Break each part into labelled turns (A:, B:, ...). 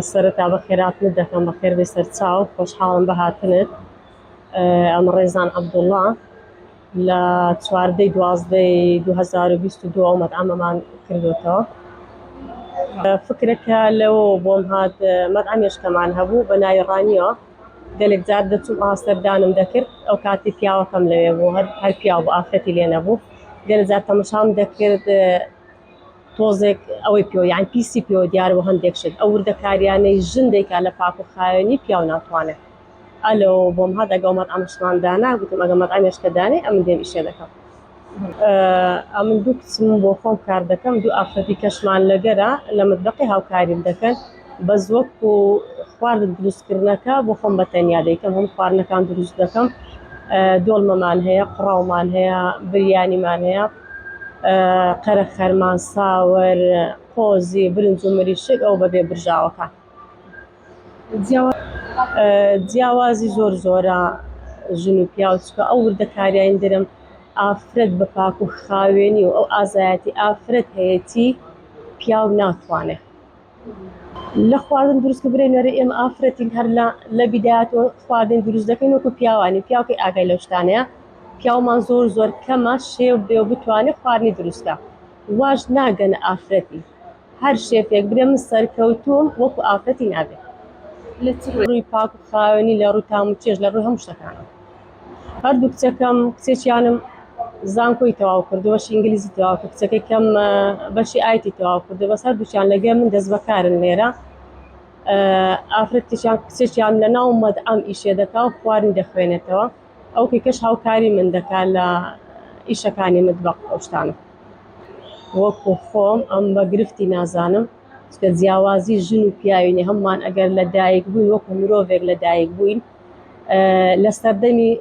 A: سەرەتا بە خێراتنت دەکەم بە خێربێ سەرچاو خۆشحاڵم بە هاتنت ئەمە ڕێزان عەبدوڵڵا لە چواردەی دوازدەی 2022 ئەومەد ئەمەمان کردوێتەوە فکرەکە لەوە بۆم هات مەدعمێشکەمان هەبوو بە ناوی ڕانیەوە گەلێک جار دەچووم ئاو سەردانم دەکرد ئەو کاتی پیاوەکەم لەوێ بوو هەر هەر پیاو بوو ئافرەتی لێ نەبوو گەلێک جار تەمەشام دەکرد تۆزێک ئەوەی پێوە یان پیسی پێوە دیار بۆ هەندێک شت ئەو وردەکاریانەی ژن دەیکا لە پاک و خاوێنی پیاو ناتوانێت ئەلۆ بۆم هات ئەگەڵ مەتعەمشمان دانا گوتم ئەگە مەتعەمێش کە دانێ ئەمن دێم ئیشێ دەکەم ئەمن دوو کچم بۆ خۆم کار دەکەم دوو ئافرەتی کەشمان لەگەرە لە متبەقی هاوکاریم دەکەن بەس وەک و خوارد دروستکردنەکە بۆ خۆم بە تەنیا دەیکەم هەم خواردنەکان دروست دەکەم دۆڵمەمان هەیە قڕاومان هەیە بریانیمان هەیە قەرە خەرمان ساوەر قۆزی برنج و مریشک ئەو بەبێ برژاوەکان. جیاوازی زۆر زۆرە ژن و پیاو چکە ئەو وردەکاریین درم ئافرەت بە پاک و خاوێنی و ئەو ئازایەتی ئافرەت هەیەی پیاو ناتوانێت لە خواردن دروست کە برێ نەرە ئێمە ئافرەتین هەر لە لە بیدات و خواردن دروست دەکەین وەکو پیاوانی پیاوی ئاگای لە شتانەیە پیاومان زۆر زۆر کەمە شێو بێ و بتوانێت خواردنی دروستکە واش ناگەن ئافرەتی هەر شێفێک برێ من سەرکەوتووم وەکو ئافرەتی نابێ لە چ ڕووی پاک و خاوێنی لە ڕووی تام و چێژ لە ڕووی هەموو شتەکانم هەردوو کچەکەم کچێکیانم زانکۆی تەواو کردو بەشی ئینگلیزی تەواو کرد کچەکەی کەم بەشی ئایتی تەواو کردو بەس هەردووچیان لەگەڵ من دەست بەکارن لێرە ئافرەتێکیان کچێکیان لە ناو مەدعەم ئیشێ دەکا و خواردنی دەخوێنێتەوە ئەو کەکەش هاوکاری من دەکا لە ئیشەکانی متبەق ئەو شتانە وەکو خۆم ئەم بە گرفتی نازانم چکە جیاوازی ژن و پیاوینی هەممان ئەگەر لە دایک بووین وەکو مرۆڤێک لە دایک بووین لە سەردەمی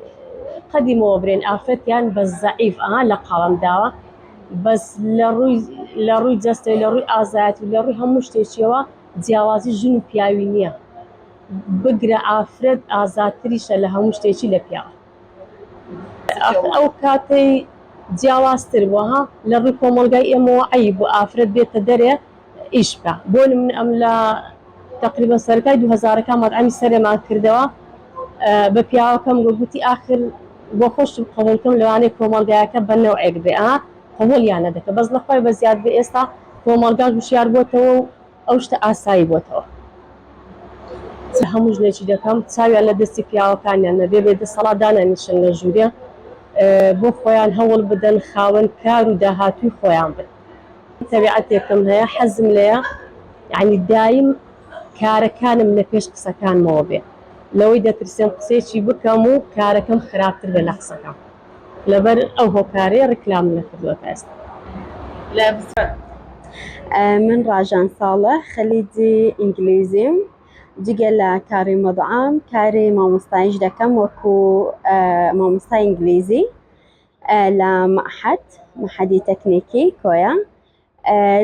A: قەدیمەوە برێن ئافرەتیان بە زەعیف ئەها لە قاڵم داوە بەس لە ڕووی لە ڕووی جەستەی لە ڕووی ئازایەت و لە ڕووی هەموو شتێکیەوە جیاوازی ژن و پیاوی نییە بگرە ئافرەت ئازاتریشە لە هەموو شتێکی لە پیاو ئاخر ئەو کاتەی جیاوازتر بووە ها لە ڕووی کۆمەڵگای ئێمەوە عەیب بوو ئافرەت بێتە دەرێ ئیش بکا بۆ نمونە ئەم لە تەقریبەن سەرەتای دوو هەزارەکان مەتعەمی سەرێمان کردەوە بە پیاوەکەم گۆ گوتی ئاخر بۆ خۆشم قەبوڵکەم لەوانەیە کۆمەڵگایەکە بە نەوعێک بێ ئا قەبوڵیان نەدەکە بەس لەخوای بە زیاد بێ ئێستا کۆمەڵگاش وشیار بۆتەوە و ئەو شتە ئاسایی بۆتەوە چ هەموو ژنێکی دەکەم چاویان لە دەستی پیاوەکانیان نەبێ بێ دەسەڵات دانانیشن لە ژوورێ بۆ خۆیان هەوڵ بدەن خاوەن کار و داهاتووی خۆیان بن تەبیعەتێکم هەیە حەزم لەیە یعنی دایم کارەکانم لە پێش قسەکانمەوە بێ لەوەی دەترسێم قسەیەکی بکەم و کارەکەم خراپتر بێ لە قسەکەم لەبەر ئەو هۆکارەی ڕیکلام لە کردوە تا ئێستا لە.
B: من ڕاژان ساڵە خەلیجی ئینگلیزیم جگە لە کاری مدعم کاری مامۆستایش دەکەم وەکو مامۆستای ئینگلیزی لە معهد محەدی تەکنیکی کۆیە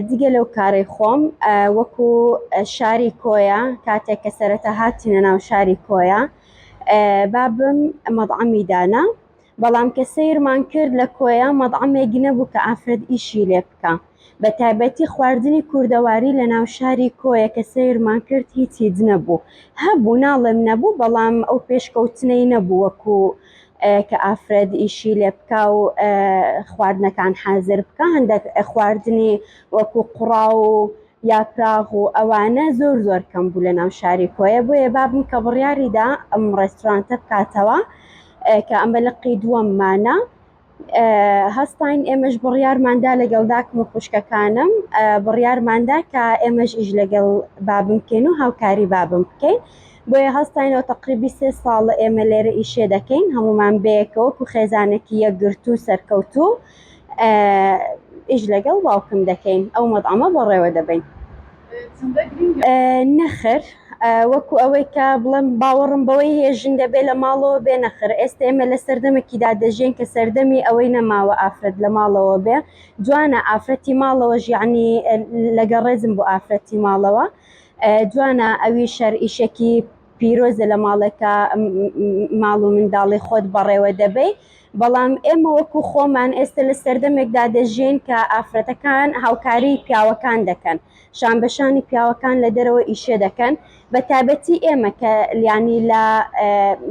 B: جگە لەو کارەی خۆم وەکو شاری کۆیە کاتێک کە سەرەتا هاتینە ناو شاری کۆیە بابم مەدعەمی دانا بەڵام کە سیرمان کرد لە کۆیە مەدعەمێکی نەبوو کە ئافرەت ئیشی لێ بکە بە تایبەتی خواردنی کوردەواری لە ناو شاری کۆیە کە سیرمان کرد هیچ هیچ نەبوو هەبوو ناڵێم نەبوو بەڵام ئەو پێشکەوتنەی نەبوو وەکو کە ئافرەت ئیشی لێ بکا و خواردنەکان حازر بکە هەندێک خواردنی وەکو قوڕا و یاپراغ و ئەوانە زۆر زۆر کەم بوو لە ناو شاری کۆیە بۆیە بابم کە بڕیاریدا ئەم ڕێستورانتە بکاتەوە کە ئەمە لقی دووەممانە هەستاین ئێمەش بڕیارماندا لەگەڵ داکم و خوشکەکانم بڕیارماندا کە ئێمەش ئیش لەگەڵ بابم بکەین و هاوکاری بابم بکەین بۆیە هەستاینەوە تەقریبی سێ ساڵە ئێمە لێرە ئیشێ دەکەین هەمومان بەیەکەوە وەکو خێزانێکی یەکگرتوو سەرکەوتوو ئیش لەگەڵ باوکم دەکەین ئەو مەدعەمە بەڕێوە دەبەین نەخر وەکو ئەوەی کە بڵم باوەڕم بەوەی هەیە ژن دەبێ لە ماڵەوە بێ نەخر ئێستا ئێمە لە سەردەمێکیدا دەژێن کە سەردەمی ئەوەی نەماوە ئافرەت لە ماڵەوە بێ جوانە ئافرەتی ماڵەوە ژیانی لەگە ڕێزم بۆ ئافرەتی ماڵەوە جوانە ئەوی شەر ئیشەکی پیرۆزە لە ماڵێکە ماڵ و منداڵی خۆت بەڕێوە دەبەی بەڵام ئێمە وەکو خۆمان ئێستا لە سەردەمێکدا دەژین کە ئافرەتەکان هاوکاری پیاوەکان دەکەن شان بەشانی پیاوەکان لە دەرەوە ئیشێ دەکەن بە تابەتی ئێمە کە لیانی لە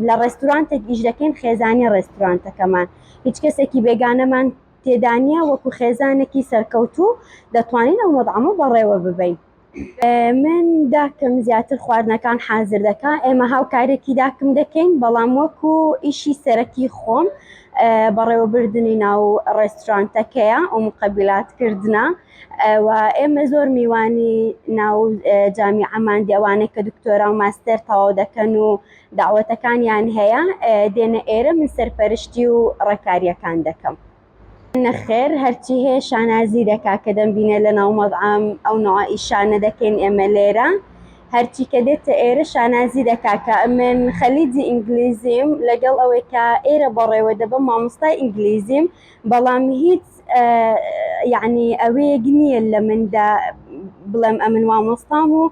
B: لە ڕێستورانتێک ئیش دەکەین خێزانی ڕێستورانتەکەمان هیچ کەسێکی بێگانەمان تێدانە وەکو خێزانێکی سەرکەوتوو دەتوانین ئەو مەدعامە بەڕێوە ببین من داکم زیاتر خواردنەکان حازر دەکا ئێمە هاوکارێکی داکم دەکەین بەڵام وەکو ئیشی سەرەکی خۆم بەڕێوەبردننی ناو ڕێستورانتەکەیە و مقەبلات کردە و ئێمە زۆر میوانی ناو جامی ئەمان دێوانێک کە دکتۆرا و ماستەر تەواو دەکەن و داوەتەکانیان هەیە دێنە ئێرە من سەرپەرشتی و ڕێکاریەکان دەکەم. نەخێر هەرچی هەیە شانازی دەکا کە دەمبینێ لە ناو مەزعەم ئەو نوعە ئیشانە دەکەین ئێمە لێرە هەرچی کە دێتە ئێرە شانازی دەکا کە من خەلیجی ئینگلیزیم لەگەڵ ئەوەی کە ئێرە بەڕێوە دەبە مامۆستای ئینگلیزیم بەڵام هیچ یعنی ئەوەیەک نییە لە مندا بڵێم ئەمن مامۆستام و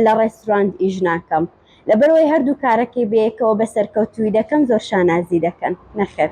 B: لە ڕێستورانت ئیش ناکەم. لەبەرئەوەی هەردوو کارەکەی بەیەکەوە بە سەرکەوتوویی دەکەم زۆر شانازی دەکەن، نەخێر.